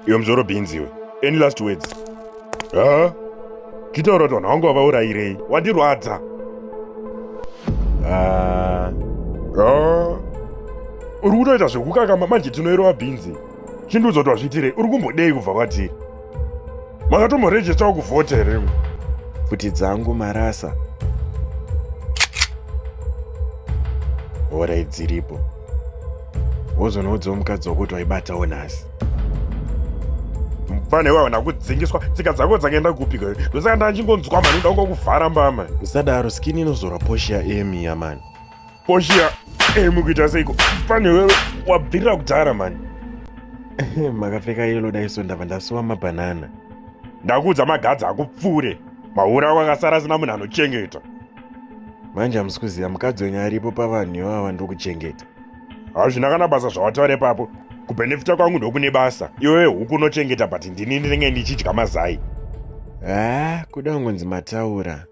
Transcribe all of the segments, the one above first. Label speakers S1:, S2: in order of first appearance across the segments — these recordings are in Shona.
S1: Iwe mzoro beans iwe. Any last words? Ha? Chitaura kuti vanhu vangu vavaurayirei. Wandirwadza. Ah. Ah. Uri kutoita zvekukakama manje tinoirova beans. Chindiudza kuti wazviitirei. Uri kumbodei kubva kwatiri? makatomborejestawo kuvhota here pfuti dzangu marasa horai dziripo wozonoudzawo mukadzi wakuti waibatawo nhasi mufana iwayo ndakudzingiswa tsika dzako dzakaenda kupika ndosaka ndachingonzwa mani ndoda kungokuvhara mbama usadaro skini inozora poshi yaemi yamani Portia, eh, mukuita seiko? Pane wewe wabvirira kudhara mani. Eh, makapfeka yellow daiso ndava ndasuwa mabanana. Ndakuudza magadzi akupfure. Maura ako akasara asina munhu anochengeta. Manje hamusi kuziva mukadzi wenyu aripo pavanhu ivava ndokuchengeta. Hazvina kana basa zvawataura ipapo. Kubenefita kwangu ndokune basa. Iwe huku unochengeta but ndini ndinenge ndichidya mazai. Ah, kuda kungonzi mataura.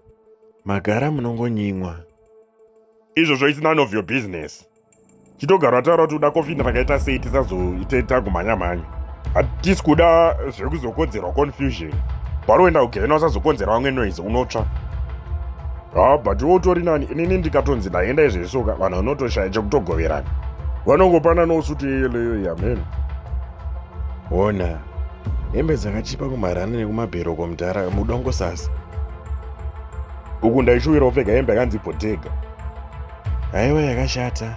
S1: Magara munongonyimwa. izvozvo it's none of your business chitogara ataura kuti uda kofini rakaita sei tisazoite tagumhanyamhanya hatisi kuda zvekuzokonzerwa confusion paroenda kugehena usazokonzera vamwe noise unotsva ha but iwe utori nani inini ndikatonzi ndaenda izvezvoka vanhu vanotoshaya chekutogoverana vanongopana nosuti yeyeleyo yamene ona hembe dzakachipa kumarana nekumabheroko mudhara mudongosasa uku ndaishuwira upfeka hembe yakanzi bhodhega haiwa yakashata